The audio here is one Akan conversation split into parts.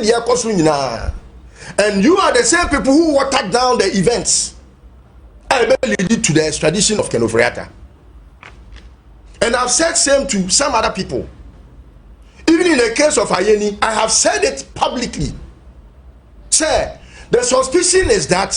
deɛ ɛkɔ so nyinaa and you are the same people who water down the events a ɛbɛ lead to the extradition of Ken Ofori-Atta and I've said same to some other people even in the case of Ayeni I have said it publicly sɛ the suspicion is that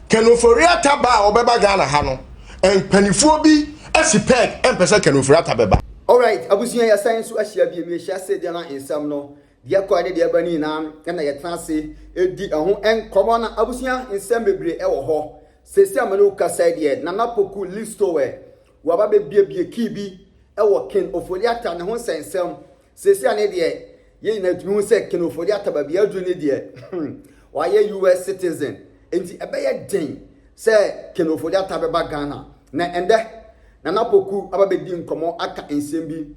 Ken Ofori-Atta ba a ɔbɛba Ghana ha no mpanimfoɔ bi asi peg mpɛ sɛ Ken Ofori-Atta bɛba. Alright, abusua yɛsan nso ahyia bio. Mehyia sɛ deɛ na nsɛm no Deɛ ɛkɔɛ ne deɛ ɛba no nyinaa no na yɛtena ase di ɛho nkɔmmɔ na abusua nsɛm bebree ɛwɔ hɔ. Seesei a me ne wo kasa yi deɛ Nana Poku Listowɛ waba bɛbuebue key bi ɛwɔ Ken Ofori-Atta ne ho nsɛnsɛm. Seesei a ne deɛ yɛn nyinaa tumi hu sɛ Ken Ofori-Atta baabi aduru ne deɛ hmm wayɛ US citizen nti ɛbɛyɛ den sɛ Ken Ofori-Atta bɛba Ghana. Na ɛndɛ Nana Poku aba bɛdi nkɔmmɔ aka nsɛm bi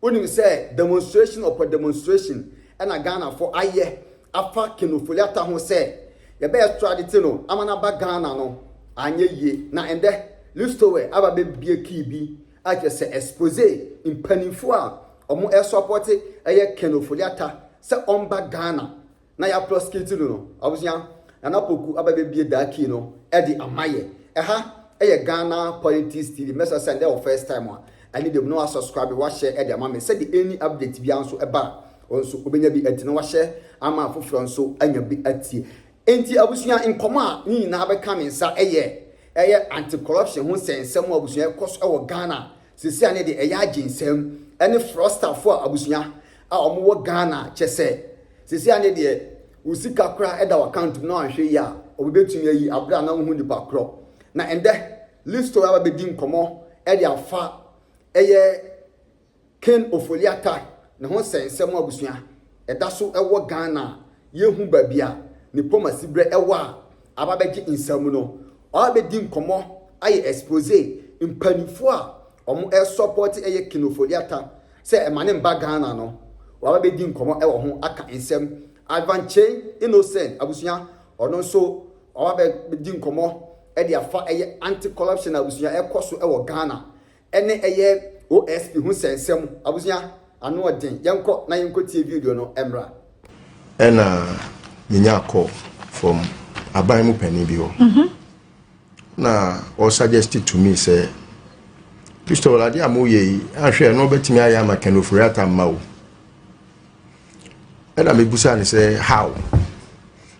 Wonim sɛ demonstration upon demonstration na Ghanafo ayɛ afa Ken Ofori-Atta ho sɛ yɛbɛ extradite no ama no aba Ghana no anyɛ yie na ɛndɛ Listowel aba bɛ bue key bi a kyerɛ sɛ expose mpaninfoɔ a ɔmo ɛsɔpɔte ɛyɛ Ken Ofori-Atta sɛ ɔmba Ghana na yɛ proskiti no no abusua nana poku aba bɛbie daa kii no ɛde ama yɛ ɛha ɛyɛ Ghana politics tv mɛsrɛ sɛ ndɛ wɔ first time a ɛne dɛm na wa subscribe me wahyɛ ɛde ama me sɛde any update biara nso ɛba a wɔn nso obɛnya bi ɛte na wahyɛ ama afoforɔ nso anya bi atie enti abusua nkɔmɔ a ne nyinaa bɛka me nsa ɛyɛ ɛyɛ anti corruption ho sɛnsɛm abusua ɛkɔ so ɛwɔ Ghana Sesei a ne de ɛyɛ agye nsɛm ɛne frɔstafo a abusua a ɔmo wɔ Ghana kyɛsɛ sesei a ne deɛ wo sika koraa ɛda w'account mu na wanhwɛ yie a ɔmo bɛtumi ayi aberɛ a na wo hu nipa korɔ na ɛndɛ Listo aba bɛdi nkɔmɔ ɛde afa ɛyɛ Ken Ofori-Atta ne ho sɛnsɛm abusua ɛda so wɔ Ghana a yɛnhu baabi a ne pomasiberɛ wɔ a aba bɛgye nsam no, ɔaba bɛdi nkɔmmɔ ayɛ expose mpaninfoɔ a wɔsɔpɔte ɛyɛ Kino Foliata sɛ ɛma ne mba Ghana no, waba bɛdi nkɔmmɔ wɔ ho aka nsɛm. Advankyei Innocent abusua, ɔno nso waba bɛdi nkɔmmɔ de afa ɛyɛ anti corruption a abusua ɛkɔ so wɔ Ghana Ɛne ɛyɛ OSP ho sɛnsɛm abusua ano ɔden yɛnkɔ na yɛnkɔ tie video no ɛmmra. Ɛna menyaa call from aban mu panin bi hɔ na ɔ suggest to me sɛ Christopher adeɛ a moyɛ yi ahwɛ ɛno bɛtumi ayɛ ama Ken Ofori-Atta mma o ɛna mebusa ne sɛ how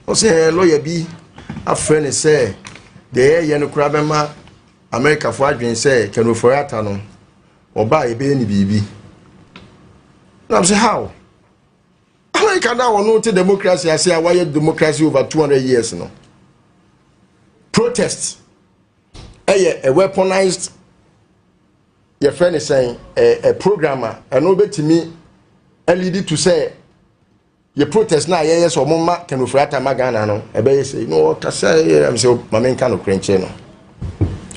ɔsɛ lɔya bi afrɛ ne sɛ deɛ yɛyɛ no koraa bɛma Amerikafo adwene sɛ Ken Ofori-Atta no, wɔbaa yɛbɛyɛ no biribi. Nam sɛ how? Amerika no a wɔno te democracy ase a wɔayɛ democracy over 200 years no, protest ɛyɛ a weaponized yɛfrɛ ne sɛn a program a ɛno bɛtumi alidi to sɛ yɛ protest na yɛyɛ sɛ ɔmo ma Ken Ofori-Atta ma Ghana no ɛbɛyɛ sɛ no ɔkasa yɛ am sɛ ma menka no korɛ nkyerɛ no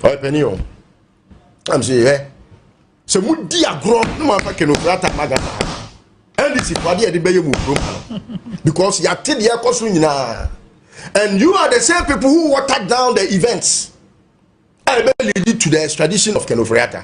ɔyɛ panin o am sɛ yɛ sɛ modi agorɔ na moamfa Ken Ofori-Atta ma Ghana NDC fo adeɛ yɛde bɛyɛ mu kurom ha no because yɛate deɛ ɛkɔ so nyinaa and you are the same people who water down the events a ɛbɛ lead to the extradition of Ken Ofori-Atta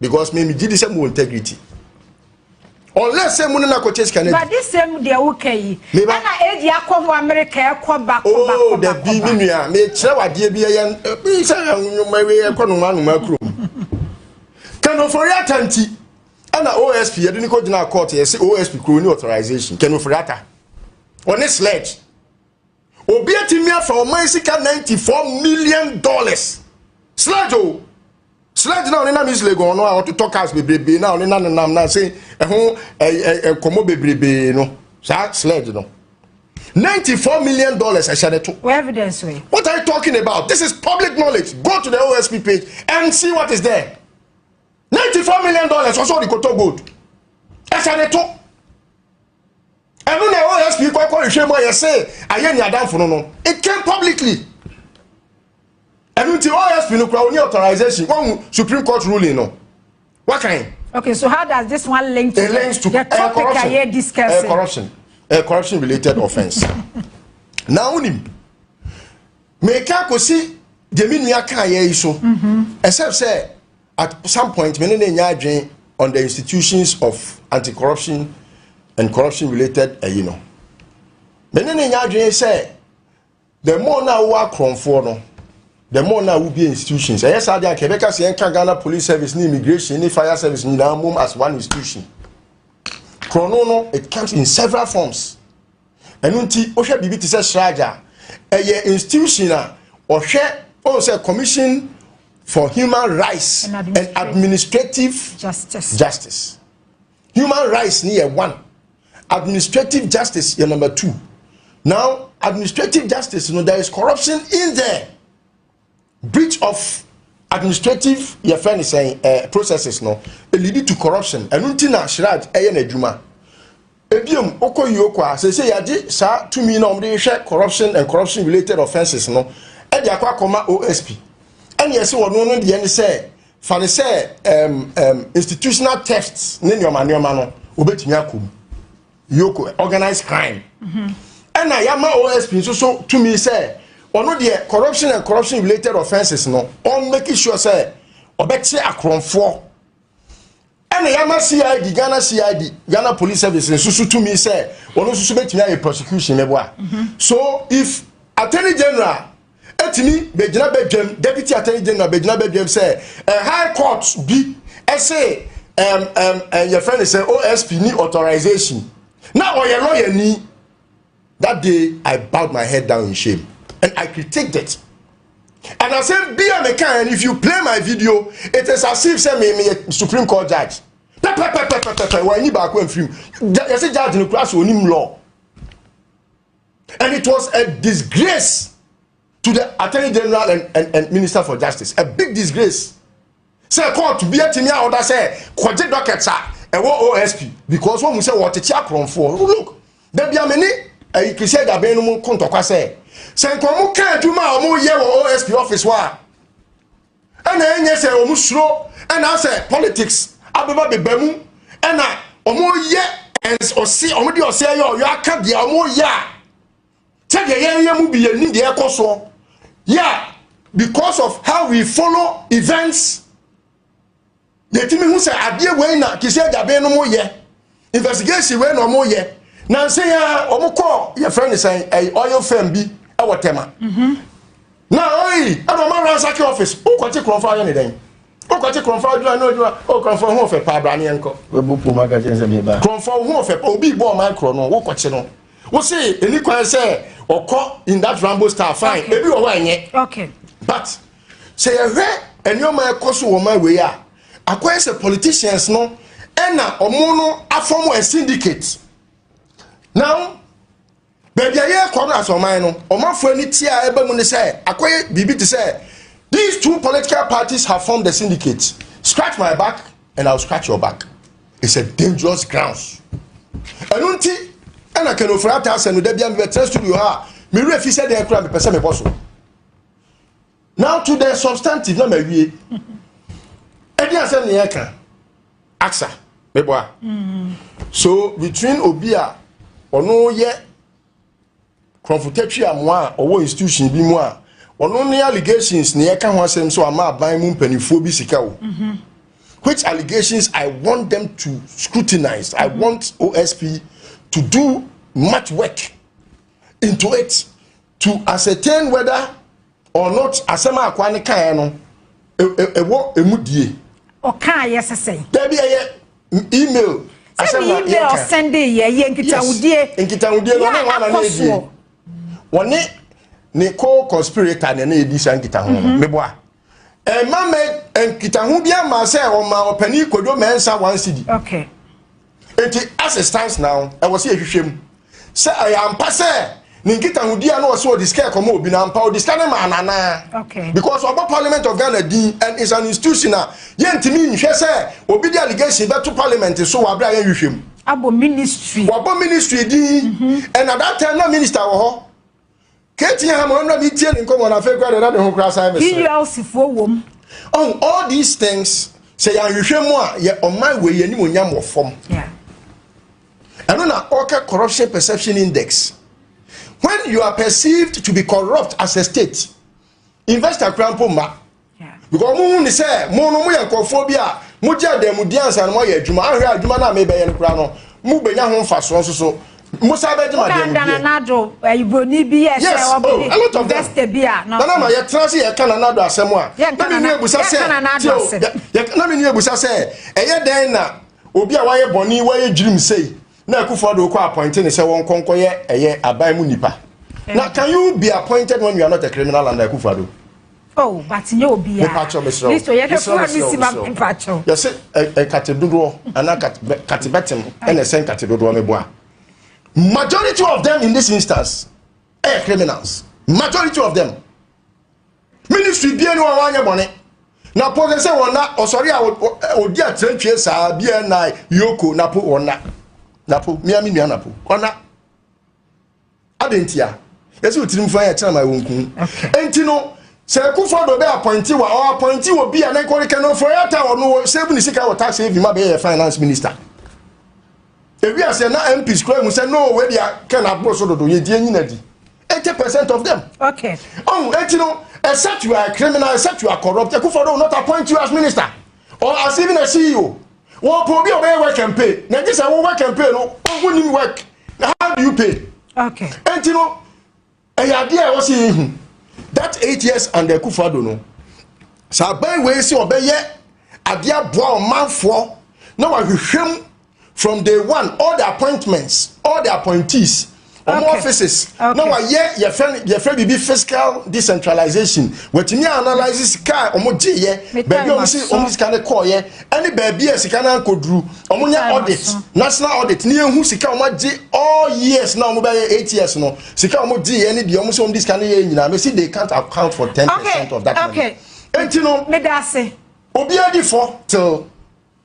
because me megye di sɛ mowɔ integrity unless sɛ mu ne no akɔkyɛ sika no adi badesɛm deɛ woka yi ɛna ɛdi akɔ ho amerika ɛkɔ bakɔbakɔ oh, dabi me nua mekyerɛ wadeɛ bi ɛyɛ sɛ nwoma wei ɛkɔ noma anoma kurom kanofori ata nti ɛna osp yɛde ne kɔgyina court yɛse osp kuro ne authorization kanofori ata ɔne sledge Obi atumi afa ɔman sika 94 million dollars. Sledge o. Sledge na ɔne nam is Legon no a ɔtotɔ cars bebrebe na ɔne na no nam na se ɛho nkɔmɔ bebrebe no. Saa sledge no. 94 million dollars ɛhyɛ ne to. Where evidence we? What are you talking about? This is public knowledge. Go to the OSP page and see what is there. 94 million dollars ɔsɔ ɔde kɔtɔ gold. Ɛhyɛ ne to. ɛno na osp kɔ kɔ nhwɛ mu a yɛse ayɛ ni adamfo no no it came publicly ɛno nti osp no kura oni authorization wɔn supreme court ruling no wakan. okay so how does this one link to, it links to the topic uh, a yɛ discussing uh, corruption uh, corruption related offence na wonim meka kɔsi gyemi nua kaa yɛ yi so ɛsɛ sɛ at some point me ne no nya adwene on the institutions of anti corruption and corruption related ɛyi no me ne no nya adwene sɛ the more na awo akorɔmfoɔ no the more na awo bie institutions ɛyɛ saa deɛ anka ɛbɛka sɛ yɛnka ghana police service ne immigration ne fire service nyinaa mom as one institution korɔno no it comes in several forms. Ɛno nti wohwɛ biribi te sɛ SRAJ a, ɛyɛ institution a ɔhwɛ ɔn sɛ Commission for Human Rights and Administrative, and administrative justice. justice. Human rights ni yɛ one, administrative justice yɛ number two. Now administrative justice no there is corruption in there. Breach of administrative yɛfrɛ no sɛn eh, processes no, elidi to corruption. Ɛno nti na Siraj ɛyɛ n'adwuma. Ebiem, wokɔ Yoko a, seesei yɛagye saa tumi na wɔde hwɛ corruption and corruption related offences no ɛde akɔ akɔma OSP. Ɛne ɛse wɔno no deɛ ne sɛ, fa ne sɛ um, um, institutional theft ne nneɛma nneɛma no, wɔbɛtumi akɔ mu. yoko organized crime ɛna yɛama osp nso so tumi sɛ ɔno deɛ corruption and corruption related offences no ɔn make sure sɛ ɔbɛkye akorɔmfoɔ ɛna yɛama cid ghana cid ghana police service nso so tumi sɛ ɔno nso so bɛtumi ayɛ prosecution mɛboa so if attorney general atumi bɛgyina badwam deputy attorney general bɛgyina badwam sɛ eh, high court bi ɛse um, um, uh, yɛfrɛ no sɛ osp ni authorization na ɔyɛ lawyer ni that day i bowed my head down in shame and i critiqued it and i said be a mechanic and if you play my video it is as if say me me supreme court judge pɛpɛpɛpɛpɛpɛ wɔn ani baako mfirim yɛsɛ judge no kura so onim law. And it was a disgrace to the Attorney General and, and, and Minister for Justice. A big disgrace. Sɛ court bi atumi a ɔda sɛ kɔgye docket a ɛwɔ OSP because wɔn mu sɛ wɔtete akorɔmfoɔ. Look, dabi amene ɛyi Christian Daben no mu ko ntɔkwa sɛ sɛ nkɔmɔ ka adwuma a wɔyɛ wɔ OSP office hɔ a ɛna ɛnyɛ sɛ wɔn suro ɛna asɛ politics abɛba beba mu ɛna wɔn yɛ ɔse wɔn de ɔsɛ yɛ ɔyɔ aka deɛ wɔn yɛ a sɛdeɛ yɛyɛ mu bi yɛ ni deɛ ɛkɔ soɔ yɛ a because of how we follow events. na ɛtumi hu sɛ adeɛ wei na te sɛ gyabe no mo yɛ investigation wei na ɔmo yɛ nansa yi a ɔmo kɔɔ yɛfrɛ ne sɛn ɛyɛ oil firm bi ɛwɔ tɛma mhm. na ɔyi ɛna ɔmo aransaki office wokɔkye korɔmfo ayɛ ne dɛn wokɔkye korɔmfo adwuma ne adwuma o korɔmfo ho ɔfɛ paa bra neɛ nkɔ korɔmfo ho ɔfɛ paa obi bɔ ɔman korɔ no wokɔkye no wo se ɛni kwan sɛ ɔkɔ in that rambo star fine ebi wɔ hɔ ɛnyɛ but Sɛ yɛhwɛ nneɛma a ɛkɔ so wɔ ma wei a, akɔyɛ sɛ politicians no ɛna wɔn no afɔm a syndicate. Now, baabi a yɛrekɔ no asɔman no, ɔmanfoɔ ani ti a ɛba mu ne sɛ akɔyɛ biribi te sɛ these two political parties have formed a syndicate. Scratch my back and I will scratch your back. It's a dangerous grounds. Ɛno nti ɛna kanofura ata asɛm no da bi a mebɛtena studio ha a me werɛ fi sɛ deɛ kora mepɛ sɛ mebɔ so. now to the substantive na mawie ɛdi asɛm ne yɛka aksa mebɔ a mm-hmm. so between obi a ɔno yɛ kurɔfotatwi amoa a ɔwɔ institution bi mu a ɔno ne allegations ne yɛka ho asɛm so ama aban mu mpanimfoɔ bi sika o mm-hmm. which allegations i want them to scrutinize i mm-hmm. want osp to do much work into it to ascertain whether or not asɛm a akoa no kaeɛ no ɛwɔ ɛmu die ɔkaeɛ sɛ sɛn dabi ɛyɛ email asɛm na yɛka email sɛnde yɛ yɛ nkitahudie nkitahudie no ɔne wana ne ɛdie wɔne ne co-conspirator na ɛna ɛdi saa nkitaho no meboa ɛma mɛ nkitaho bi ama sɛ ɔma ɔpanin kodwo mɛnsa one cd okay. nti as it stands now ɛwɔ sɛ yɛhwehwɛ mu sɛ ɛyɛ ampa sɛ ne nkitahodi a na ɔsɛ ɔde sika ɛkɔma obi no ampa ɔde sika no ma ananaa okay. because ɔbɔ parliament of ghana din and is an institution a yɛntumi nhwɛ sɛ obi de allegation bɛto parliament so wɔ aberɛ a yɛnhwehwɛ mu abɔ ministry wabɔ ministry din mm -hmm. and at that time na minister wɔ hɔ Katie ha ma ɔno na mi tie ne nkɔmɔ na afei kura deɛ na ne ho kura asan mi sere. PULC foɔ wɔm. Oh, all these things sɛ yɛn ahwehwɛ mu a yɛ ɔman wɔ yɛn anim onyam wɔ fam. Ɛno na ɔka corruption perception index. When you are perceived to be corrupt as a state, investor kura mpo mma. Because wɔhu ne sɛ mo no moyɛ nkurɔfoɔ bi a mogye adanmudeɛ ansa na moayɛ adwuma. Ahwɛ a adwuma no a merebɛyɛ no koraa no, mobɛnya ho mfasoɔ nso so. Mosan bɛgye mo adanmudeɛ. Nana Nado, ɛyɛ Buroni bi yɛ sɛ ɔbɛdi oh, investor bi a. Nana ma yɛtena se yɛka Nana Nado asɛm a. Na me nua ebusa sɛ, na me nua ebusa sɛ, ɛyɛ dɛn na obi a wayɛ bɔne wayɛ gyirim sei na akufo ado kɔ appointe ne sɛ wɔn kɔnkɔyɛ ɛyɛ aban mu nipa. Na can you be appointed when you are not a criminal under akufo ado? Oh but nyɛ obi a. Mepakyɛw mesrɛ wo. Miss Oyedefo a misi ma mepakyɛw. Yɛse nkate dodoɔ anaa kate bɛtem ɛna ɛsɛ nkate dodoɔ meboa. Majority of them in this instance ɛyɛ criminals. Majority of them. Ministry bie ni wɔn anyɛ bɔne. Na po sɛ wɔn na ɔsɔre a odi atirantwie saa bie na yoko na po wɔn na. Na po mmea mi nua na po wɔn na. Adɛn ntia? Yɛsɛ otirim fa yɛ kyerɛ ma wɔn kun. Enti no, sɛ ɛkofo do bɛ apɔinte wa, ɔ apɔinte wɔ bi a na nkɔre kɛ no fɔ yɛ ata wɔ no wɔ save ne sika wɔ tax haven ma bɛ yɛ finance minister. Ewi aseɛ na MPs kura mu sɛ no wɔ di a kɛ na aboro so dodo yɛ di enyi na di. 80% of them. Okay. Oh, enti no, except you are a criminal, except you are corrupt, ɛkofo do will not appoint you as minister or as even a CEO. wɔpɛ obi a ɔbɛyɛ work and pay na gye sɛ wo work and pay no ɔho nim work na how do you pay okay enti no ɛyɛ adeɛ a ɛwɔ sɛ yɛhu that eight years and the kufado no sɛ aban wei sɛ ɔbɛyɛ adeɛ aboa ɔmanfoɔ na wahwehwɛ mu from day one all the appointments all the appointees wɔn offices na wɔayɛ yɛfrɛ yɛfrɛ biribi fiscal decentralization wɔatumi analyse sika a wɔn gye yɛ baabi a wɔn si wɔn sika no kɔɔ yɛ ɛne baabi a sika no ankɔduru wɔn nyɛ audit national audit ne yɛn hu sika wɔn agye all years na wɔn bɛyɛ eight years no sika wɔn gye yɛ ne deɛ wɔn si wɔn de sika no yɛ nyinaa mɛ si they can't account for ten percent of that money eti no obiara di fɔ till.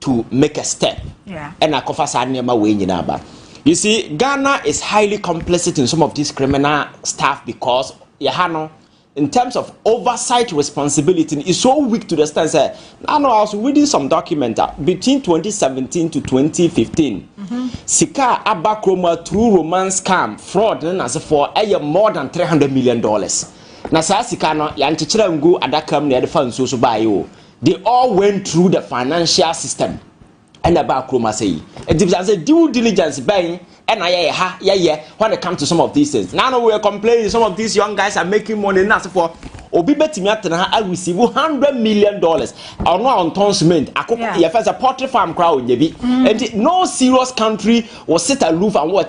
to make a step ɛna akɔfa saa nneɛma wei nyinaa ba you see ghana is highly complicit in some of these criminal stuff because yɛha no in terms of oversight responsibility is so weak to the extent that I know I was reading some document uh, between 2017 to 2015. Mm-hmm. Sika Abakroma through romance scam fraud and as for a more than 300 million dollars. Na saa sika no yɛnkyekyerɛ ngu adaka mu na yɛde fa nsuo so baeɛ o They all went through the financial system ɛna ɛbaa kurom ase yi nti bisa sɛ due diligence bɛn ɛna yɛyɛ ha yɛyɛ when it comes to some of these things now we are complaining some of these young guys are making money na asefoɔ obi bɛtumi atena ha a receive hundred million dollars ɔno a ɔntɔn cement akoko yɛfɛ sɛ poultry farm koraa ɔnyɛ bi nti no serious country will sit aloof and watch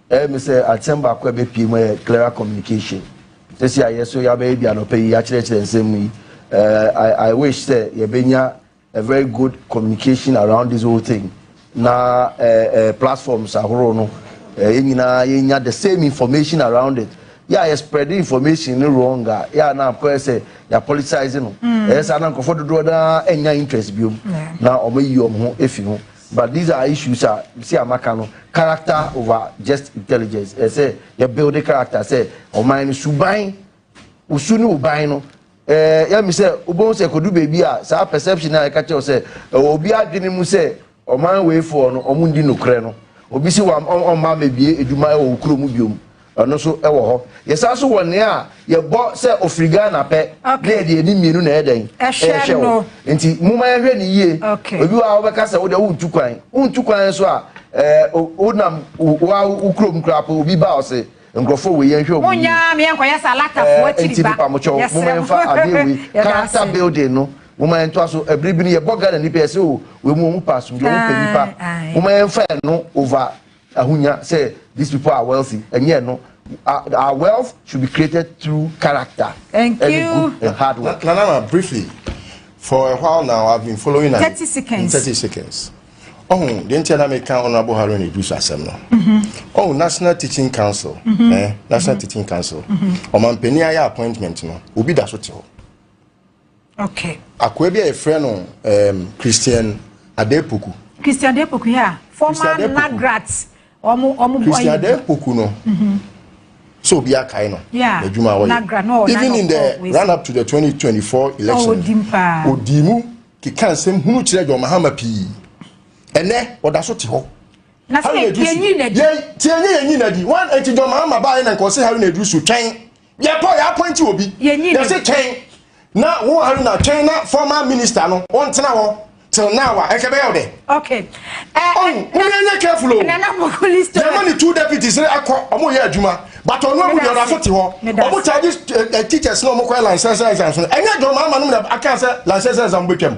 Ɛyɛ me sɛ asɛm baako a ɛbɛpue mu yɛ clearer communication. Sɛsi a yɛ so yɛabɛyɛ bi anɔpa yi, yɛakyerɛkyerɛ nsɛm mu yi, eh, I, I wish sɛ yɛbɛnya a very good communication around this whole thing na eh, eh, platforms ahorow no eh, yɛn nyinaa yɛnya the same information around it yɛ a yɛspread information no wrong a yɛ a na akɔyɛ sɛ yɛapolitise no ɛyɛ saa na nkurɔfoɔ dodoɔ no ara ɛnya interest biom na wɔayi wɔn ho afi ho But these are issues a mesi a maka no, character over just intelligence. Ɛyɛ sɛ yɛ build character sɛ ɔman no suban, wo su ne wo ban no. Ɛɛ yɛ mi sɛ wobɛhu sɛ kodu baabi a saa perception a yɛka kyerɛw sɛ ɛwɔ obi adwene mu sɛ ɔman weifoɔ no ɔmo ndi nokorɛ no, obi si wɔn ɔmma mɛbie adwuma ɛwɔ wo kuro mu biom. Ɛno nso wɔ hɔ. Yɛsan nso wɔ nea yɛbɔ sɛ ofiri Ghana pɛ na yɛde ani mmienu na ɛyɛ dɛn? Ɛhwɛ no. Nti momma yɛnhwɛ no yie. Ebi wɔ hɔ a wobɛka sɛ wo deɛ wontu kwan. Wontu kwan nso a, ɛɛ wonam wo ara wo kurom koraa po obi ba a ɔse nkurɔfoɔ wei yɛnhwɛ wɔn yie. Monnya me yɛnkɔyɛ sɛ alatafoɔ akyiri ba. Ɛɛ nti mepamokyɛw momma yɛmfa adeɛ wei, character building no, momma yɛntoa so. Ɛbere bi no yɛbɔ Ghanani pɛ yɛse o wei mu wɔn pɛ asomdwoe, wɔn pɛ nnipa. Momma yɛmfa ɛno over Ahonya sɛ these people are wealthy ɛnyɛ ɛno, our wealth should be created through character and good and hard work. Nana ma briefly for a while now I have been following am thirty seconds thirty seconds ɔhun deɛ nkyɛn na mi kan honourable Haruna Idris asɛm no ɔhun national teaching council ɛɛ mm-hmm. eh, national mm-hmm. teaching council ɔmanpanin mm-hmm. ayɛ appointment no obi da so te hɔ. Okay. Akoa bi a yɛfrɛ no um, Christian Adepoku. Christian Adepoku, yeah. Former Nagrat. Omo, omo Christian Adepoku no. Mm-hmm. So be a kind of yeah. Nagra, no, Even in the run up to the 2024 election, oh, Odimu, ki kan sem hunu chire jo mahama pi. Ene, odaso ti ho. Na se kenyi na di. Ye, tienye yenyi na di. One, eti jo mahama ba ene nkose haru na di su chen. Yɛkɔ yɛ appointi obi. Yɛnyi no. Yɛse twɛn na wo Haruna twɛn na former minister no ɔntena hɔ till now a ɛnka ɛbɛyɛ wo dɛ. Okay. Eh, oh, mo yɛ nyɛ careful o. Nana Bokuli story. Yɛma ne two deputies ne akɔ ɔmo yɛ adwuma but ɔno amu deɛ ɔda so te hɔ. Ɔmo charges eh, eh, teachers na ɔmo kɔ yɛ licensure exams no. Ɛnyɛ John Mahama nom na aka sɛ licensure exam betwam.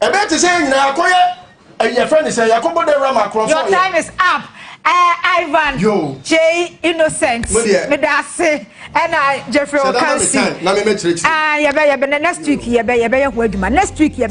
Ɛbɛyɛ te sɛ yɛn nyinaa yɛakɔyɛ ɛyi yɛfrɛ ne sɛ yɛakɔbɔ dawura ma akorɔfoɔ Your yɛ. time is up ɛɛ Ivan Yo. Jay Innocent Mo deɛ. meda ase ɛna Jeffrey Sɛ da ma me Okansi time na me mɛ kyerɛ kyerɛ. ɛɛ yɛbɛ yɛbɛ nɛ next week yɛbɛ yɛbɛyɛ ho adwuma next week yɛbɛ.